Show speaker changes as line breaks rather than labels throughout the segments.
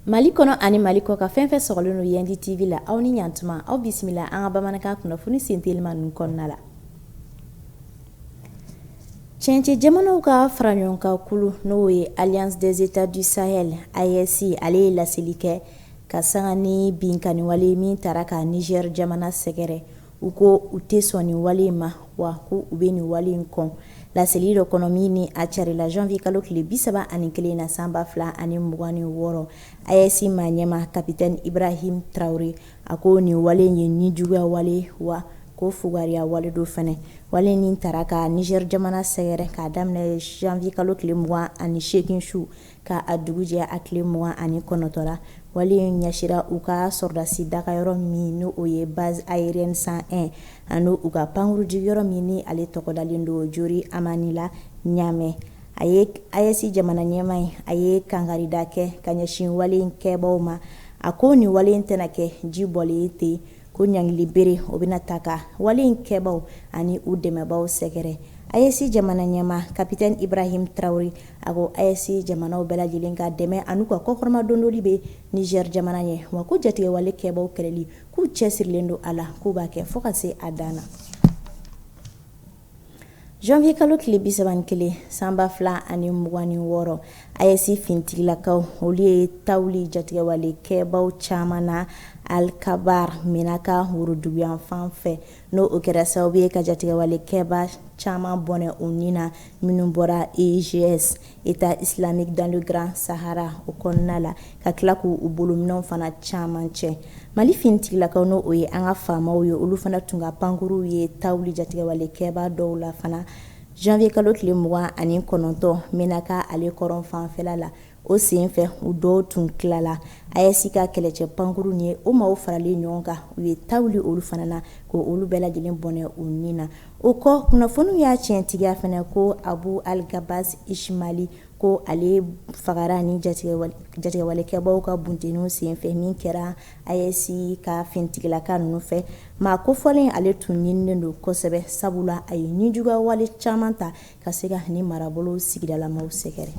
Mali kɔnɔ ani Mali kɔkan fɛn fɛn sɔgɔlen don Yɛndi TV la aw ni ɲantuma aw bisimila an ka bamanankan kunnafoni sentelima ninnu kɔnɔna la cɛncɛn jamanaw ka fara ɲɔgɔn kan kulu n'o ye Alliance des États du Sahel AES ale ye laseli kɛ ka sanga ni binkanni wale ye min taara ka Niger jamana sɛgɛrɛ, u ko u tɛ sɔn nin wale in ma, wa ko u bɛ nin wale in kɔn. Laseli dɔ kɔnɔ min ni a carila janvier kalo tile 31 in na san 2026, AES maa ɲɛma capitaine Ibrahim Traore, a ko nin wale in ye nijuguya wale ye, wa ko fugariya wale don fana. Wale in min taara ka Niger jamana sɛgɛrɛ k'a daminɛ janvier kalo tile 28 su, Ka a dugu jɛ a tile mugan ani kɔnɔntɔn la wale in ɲɛsira u ka sɔrɔdasi daga yɔrɔ min n' o ye base aérienne cent un ani u ka pankurunjigiyɔrɔ min ni ale tɔgɔ dalen don Diori Hamani la Ɲamɛ a ye AES jamana ɲɛma in a ye kangarida kɛ ka ɲɛsin wale in kɛbaw ma a ko nin wale in tɛna kɛ ji bɔlen ye ten ko ɲangili bere o bɛna taa ka wale in kɛbaw ani u dɛmɛbaw sɛgɛrɛ AES jamana ɲɛma kapitɛn Ibrahim Traore a ko AES jamanaw bɛɛ lajɛlen ka dɛmɛ an'u ka kɔkɔrɔmadondoli bɛ nizɛri jamana ɲɛ wa ko jatigɛwale kɛbaw kɛlɛli k'u cɛsirilen don a la k'u b'a kɛ fɔɔ ka se a dan na Janvier kalo tile 31 san 2026 AES finitigilakaw olu ye ta wuli jatigɛwale kɛbaaw caman na Alkabar Menaka woroduguyanfan fɛ n'o o kɛra sababu ye ka jatigɛwale kɛbaa caman bɔnɛ u ni na minnu bɔra EIGS État islamique dans le Grand Sahara o kɔnɔna la ka tila k' u bolominɛnw fana caman cɛ mali finitigilakaw n' o ye an ka faamaw ye olu fana tun ka pankurunw ye ta wuli jatigɛwale kɛbaa dɔw la fana janvier kalo tile mugan ani kɔnɔntɔn Menaka ale kɔrɔnfanfɛ la o senfɛ u dɔw tun tilala AES ka kɛlɛcɛ pankurun ni o maaw faralen ɲɔgɔn kan u ye ta wuli olu fana na ko olu bɛɛ lajɛlen bɔnɛ u ni na O kɔ kunnafoniw y'a tiɲɛtigiya fana ko Abu Al-Gabas Ishmali ko ale fagara ni jatigɛwalekɛbaaw ka buntenniw senfɛ min kɛra AES ka finitigilaka ninnu fɛ maa kofɔlen ale tun ɲininen don kosɛbɛ sabu la a ye nijuguyawale caman ta ka se ka ni marabolo sigidalamaw sɛgɛrɛ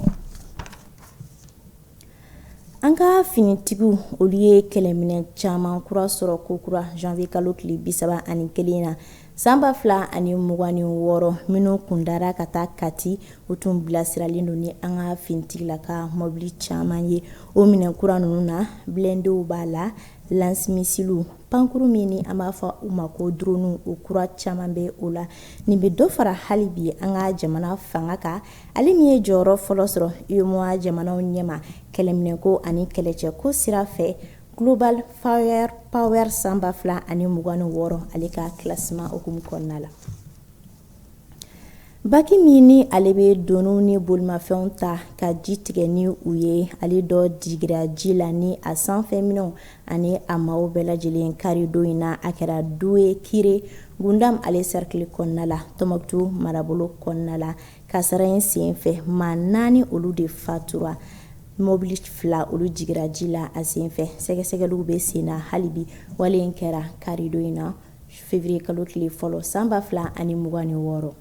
An ka finitigiw olu ye kɛlɛminɛ caman kura sɔrɔ kokura janvier kalo tile bi saba ani kelen na san ba fila ani mugan ni wɔɔrɔ minnu kundara ka taa Kati u tun bilasiralen don ni an ka finitigila ka mɔbili caman ye o minɛn kura ninnu na blindéw b'a la lance-missilew pankurun min ni an b'a fɔ u ma ko dronew o kura caman bɛ o la nin bɛ dɔ fara hali bi an ka jamana fanga kan ale min ye jɔyɔrɔ fɔlɔ sɔrɔ UEMOA jamanaw ɲɛma kɛlɛminɛko ani kɛlɛcɛko sira fɛ Global Firepower san ba fila ani mugan ni wɔɔrɔ ale ka classement hukumu kɔnɔna la. Baki min ni ale bɛ doniw ni bolimafɛnw ta ka ji tigɛ ni u ye ale dɔ digira ji la ni a sanfɛ minɛnw ani a maaw bɛɛ lajɛlen karidon in na a kɛra Douékiré Goundam ale cercle kɔnɔna la Tɔnbukutu marabolo kɔnɔna la. kasara in sen fɛ maa naani olu de fatura mɔbili fila olu jigira ji la a sen fɛ sɛgɛsɛgɛliw bɛ sen na hali bi wale in kɛra karidon in na février kalo tile fɔlɔ san ba fila ani mugan ni wɔɔrɔ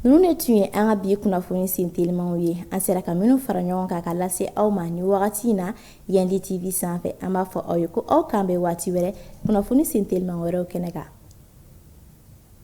ninnu de tun ye an ka bi kunnafoni sentelimaw ye an sera ka minnu fara ɲɔgɔn kan ka lase aw ma nin wagati in na yandi tv sanfɛ an b'a fɔ aw ye ko aw k'an bɛn waati wɛrɛ kunnafoni sentelima wɛrɛw kɛnɛ kan